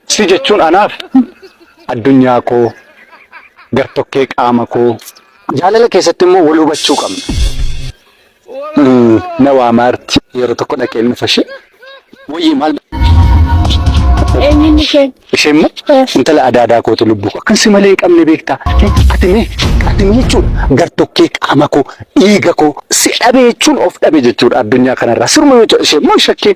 Si jechuun anaaf addunyaa koo gartokkee qaama koo. Jaalala keessatti immoo wal hubachuu qabna. Mm, Na waamaarti yeroo tokko dhaqeen dhufa ishee. Wayyii maal Eenyuun isheen? ishee immoo intala adaadaa kootu lubbuu koo. Kan si malee hin qabne beektaa. Ati mee ati mee jechuudha gartokkee qaama koo dhiiga koo si dhabe jechuun of dhabe jechuudha addunyaa kanarraa. Siruma yoo ta'e ishee immoo shakkeen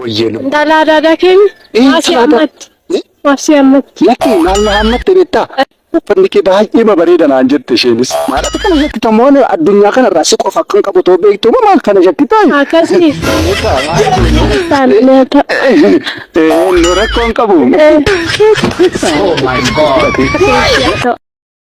Wayyee lubbu. Intala adaadaa keenya Ee, maasii talaata. ammatti. Ee? Maasii ammatti. Lakki maal na hammatte beektaa? Uffanni kee baay'ee bareeda naan jette isheenis. Maal akka kana shakkita moo ani addunyaa kanarraa si qofa akkan qabu too beektu moo maal kana shakkita? Akkasii. Taanillee ta'a. Ee, nu rakkoon qabu. Ee. Oh my god. Ta'a.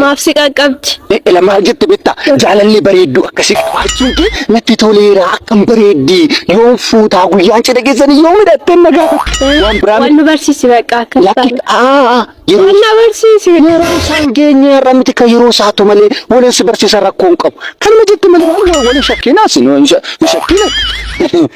Maaf si qaqqabdi? Eela maal jette beektaa? Jaalalli bareedduu akkasii qabaachuun kee natti toleera akkam bareeddi. Yoon fuutaa guyyaan cidha keessanii yoo midhattee na gaafa. Waan biraa Wal nu barsiisi bakka akka lakki isaan. aa yeroo Wal na barsiisi. yeroo isaan geenye irra miti kan yeroo isaatu malee waliin si barsiisa rakkoon qabu. Kanuma jette malee waan walii shakkiinaas nu hin shakkiina.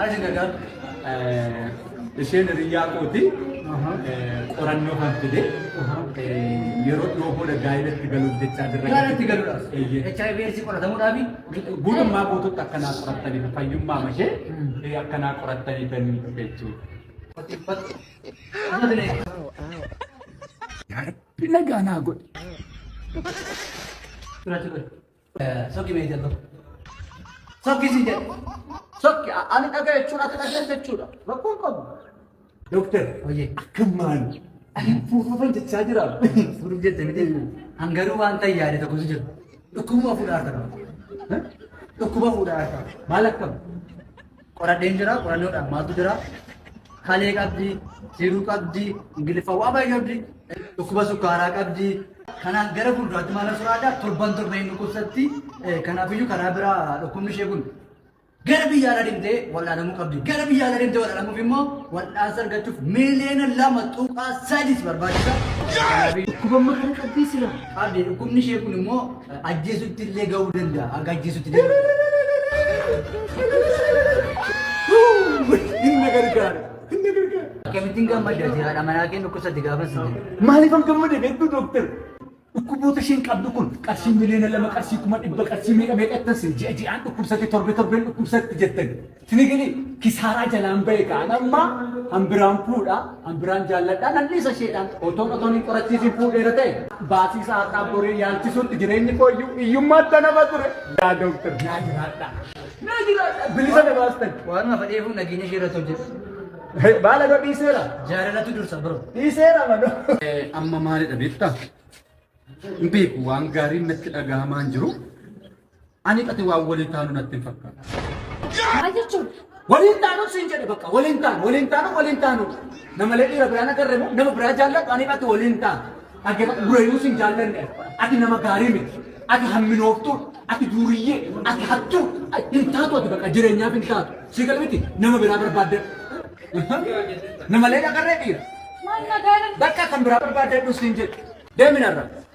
Aisha Gadaa isheen hiriyyaa kooti qorannoo kan fide yeroo dhiyoo booda gaa'ilatti galuuf jechaa jirra. Gaa'ilatti galuudhaaf. HIV eessi qoratamuudhaafi. Guutummaa guutuutti akkanaa qorattaniif fayyummaa mashee akkanaa qorattanii kan jechuudha. Rabbi nagaa naa godhe. Sokki mee jala. Sokki si jala. Sokki ani dhaga jechuun ati dhaga jechuudha. Rakkoon qabu. Doktar Hojii. akkam maal ani fuufuufan jechaa jira. Fuudhuuf jette miti. Hangaruu waan ta'e yaade tokkotu jira. Dhukkubuma fuudhaa harka qaba. Dhukkuba fuudhaa harka qaba. Maal akkam? Qoradheen jira qorannoodhaan maaltu jira kalee qabdi jiruu qabdi ingiliffa waa baay'ee qabdi dhukkuba sukkaaraa qabdi kanaaf gara fuulduraatti maal asirraa adda torban torban hin dhukkubsatti kanaafiyyuu karaa biraa dhukkubni ishee kun gara biyya alaa deemtee wal'aanamuu qabdi gara biyya alaa deemtee wal'aanamuuf immoo wal'aansa argachuuf miiliyoona lama tuqaa sadis barbaachisa. Dhukkuba maal qabdi sila? Qabdi dhukkubni ishee kun immoo Ajjeesutti illee ga'uu danda'a. Hanga ajjeesutti illee ga'uu danda'a. Hin na gargaare. Hin na gargaare. Akkamittiin gammadda jiraadha manaa kee dhukkubsatti gaafa si jedhu. Maaliif an gammade beektu dooktar? Dhukkuboota isheen qabdu kun qarshii miliyoona lama qarshii kuma dhibba qarshii meeqa meeqa ittan sin ji'a ji'aan dhukkubsatti torbe torbeen dhukkubsatti jettan. Tirigili kisaaraa jalaan bahe kaan amma hambiraan fuudha hambiraan jaalladha nan dhiisa isheedhaan otoon otoon hin qorachiisiin fuudheera ta'e baasii isaa har'aa boree yaalchisuutti jireenyi koo iyyuu hiyyummaa itti nama ture yaa dooktar naa jiraadha naa jiraadha bilisa na baastan Waan lafa dheefuun nageenya ishee irratti hojjetu. baala koo dhiiseera Jaalalatu dursa bro. dhiiseera manoo. Amma maalidha beektaa? Hin beeku waan gaariin natti dhagahamaan jiru. Ani qati waan waliin taanu natti hin fakkaatu. Maal jechuun? Waliin taanu siin jedhe bakka waliin taanu waliin taanu waliin taanu. Namalee dhiira biraan agarre moo nama biraa jaalladhu ani qati waliin taanu. Dhaggeeffadhu durayyuu siin jaallanne ati nama gaarii miti. Ati hamminooftuu ati duuriyyee ati hattuu hin taatu ati bakka jireenyaaf hin taatu. Sii gala miti nama biraa barbaadde. Namalee agarree dhiira. Maal nagaa irratti? Bakka kan biraa barbaadde dhusiin jedhe. Deeminarra.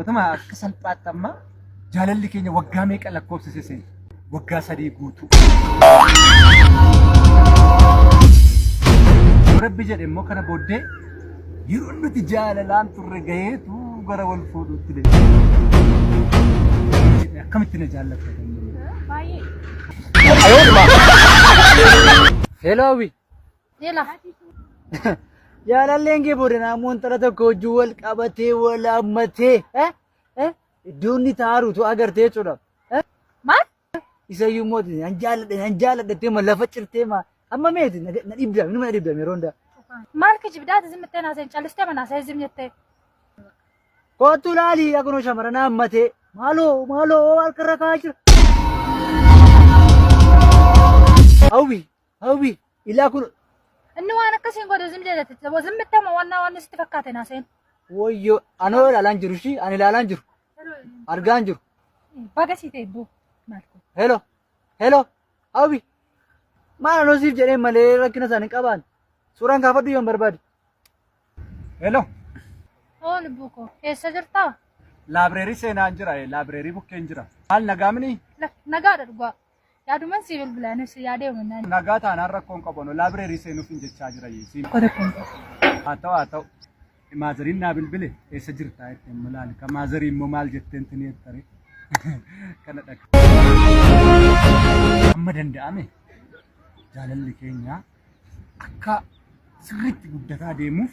Otuma akka salphaatti amma jaalalli keenya waggaa meeqa lakkoofsise seena? Waggaa sadii guutuu. Yoo Rabbi jedhe immoo kana booddee yeroo nuti jaalalaan turre gaheetu gara wal fuudhuutti deema. Akkamitti na jaallatta? Baay'ee. Hello hawwi Jela. Jaalalleen kee booda naammoo intala tokko wajjin wal qabatee wal hammatee eh? eh? iddoo inni taaruutu agartee jechuudha. eh? Maal? Isayyuu immoo ati nan jaaladhe nan jaaladhe jettee ma lafa cirtee ma amma meeti na na dhibda minuma na dhibda yeroo hundaa. Maal kijibdaa ati zimmittee naaseen callistee manaasee zim jettee. Kootu laali akkuma shamarran hammatee maaloo maaloo harkarra kaa'aa jira. Hawwi Hawwi ilaa kun Inni waan akkasiin godhu zim jedhate taboo zim mittama waan waan sitti fakkaate naa seen. woyyoo anoo ilaalaan jiru ishii ani ilaalaan jiru argaan jiru. Baga sii ta'e boo maal kun. Hello hello hawwi maal anoo siif jedhee malee rakkina isaan hin qabaan suuraan kaafadhu yoon barbaade. Hello, Oo lubbuu koo eessa jirtaa? laabireerii seenaan jira, laabireerii bukkeen jira. Maal nagaamini? Lak nagaadha dhugaa. Yaaduman sii bilbilaa nus yaadee umannaan. Nagaa taanaan rakkoon qabano laabireerii seenuuf hin jechaa jira yeesiin. Akka rakkoon qabu. Haa ta'u haa ta'u. Maazariin naa bilbile eessa jirtaa jette amma laali ka maazarii immoo maal jetteen tini jettare kana dhaqa. Amma danda'ame jaalalli keenya akka sirriitti guddataa deemuuf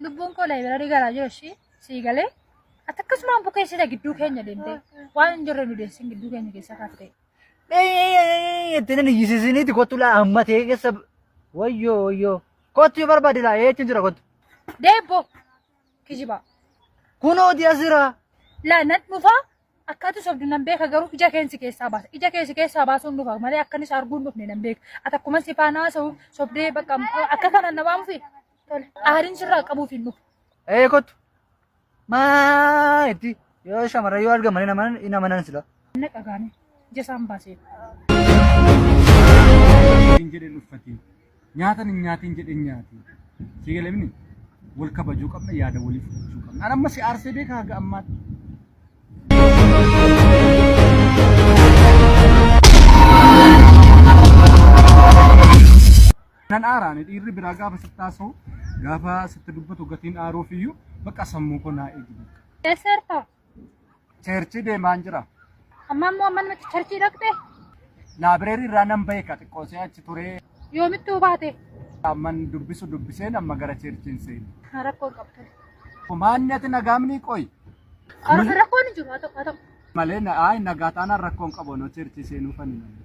Lubbuun koo laayibirarii garaa jiru ishii sii galee ati akkasumaan bukeessita gidduu keenya deemtee waan hin jirre nu deessin gidduu keenya keessa kaaftee. Itti nan iyyisisiniiti kottu laa amma ta'e keessa wayyoo wayyoo kottu yoo barbaade laa eecha jira kottu. Deebbo kijibaa. Kunoo diya jira. Laa nan dhufaa akkaatu sobdu nan beeka garuu ija keensi keessaa baasa. Ija keensi keessaa baasuun dhufa malee akkanis arguun dhufne nan beeka. Ati akkuma si faanaa sobdee bakka akka kana na waamufi. Aariin sirraa qabuuf hin dhufu. Ee kottu. Maa itti yoo shamarran yoo argaman hin amanan hin amanan sila. Anna qagaane jasaan baasee. hin jedhe uffatiin nyaatan hin nyaatiin jedhe hin nyaatiin si galamni wal kabajuu qabna yaada waliif fudhachuu qabna an amma si aarsee beeka haga ammaatti Nan aara ani dhiirri biraa gaafa sitti haasa'u gaafa sitti dubbatu gatiin aaruuf iyyuu bakka sammuu koo naa eegi bakka. Eessa jirta? Cheerchii deemaan jira. Amma immoo amma namatti charchii dhaqxe? Laabireerii irraa nan bahe ka xiqqoo see achi turee Yoomittuu baate? amman dubbisu dubbiseen amma gara cheerchiin seeni. Rakkoo hin qabdu. Maanni ati nagaamni qoy Rakkoon hin jiru haa ta'u haa ta'u. malee na- ayi nagaa taanaan rakkoon qabu noo cheerchii seenuu fani malee.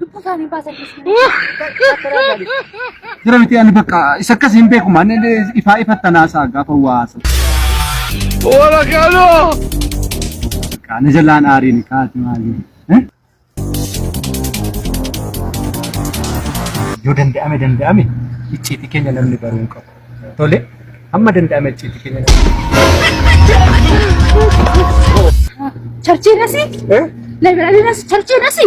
Lubbuu isaanii baasan Jira miti ani bakka isa akkas hin beeku maan ifaa ifattan haasaa gaafa waa haasaa. Wala kaloo! Kaana jalaan aariin kaati maali? Yoo danda'ame danda'ame icciitii keenya namni baruu hin qabu. Tole amma danda'ame icciitii keenya namni. Charchii nasi? Laayibiraarii nasi? Charchii nasi?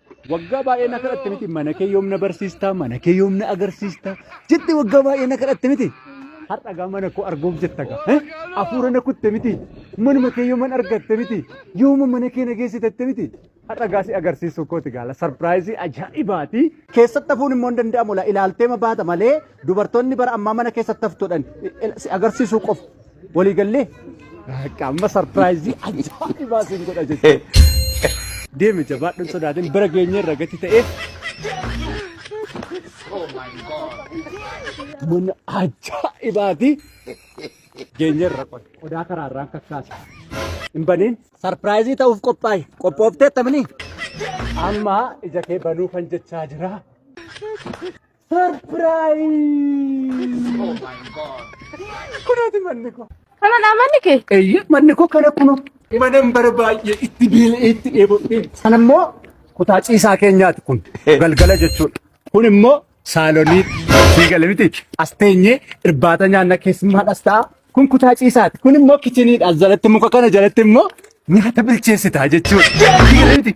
Waggaa baay'ee na kadhatte miti mana kee yoom na barsiistaa mana kee yoom na agarsiistaa jette waggaa baay'ee na kadhatte miti. Har'a gaa mana koo arguuf jetta gaa. eh? Hafuura na kutte miti. Manuma kee yooman argatte miti. Yooma mana kee na geessitatte miti. Har'a gaa si agarsiisuu kooti gaala. Sarpiraayizii ajaa'ibaati. Keessatti hafuun immoo hin danda'amu laa ilaalteema baata malee dubartoonni bara ammaa mana keessatti haftuudhaan si agarsiisuu qofa. Walii gallee? Akka amma sarpiraayizii ajaa'ibaa siin godha jechuudha. Deemi jabaadhuun sodaatiin bara geenye irra gati ta'ee. Mana ajaa'ibaati. Geenye irra qoda. Qodaa karaa irraan kakkaasa. Hin baniin. Sarpiraayizii ta'uuf qophaa'e. Qophoofteetta mini. Amma ija kee banuu kan jechaa jira. Kunaati manni koo. Kanadha manni kee? Eeyyee manni koo kana kunoo. Manan bara baay'ee itti beela'ee itti dheebodhee. Sana immoo kutaa ciisaa keenyaati kun galgala jechuudha. Kun immoo saalonii sii gale miti. As teenyee irbaata nyaanna keessummaadhas ta'a. Kun kutaa ciisaati. Kun immoo kichiniidha. As jalatti muka kana jalatti immoo nyaata bilcheessita jechuudha. Sii gale miti.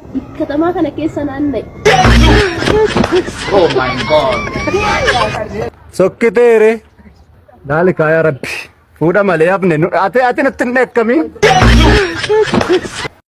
Katamaa kana keessa naanna'e. Sokkiteere. Laali kaayaa rabbi. Fuudha malee hafne. Ati ati natti hin dheekkamiin.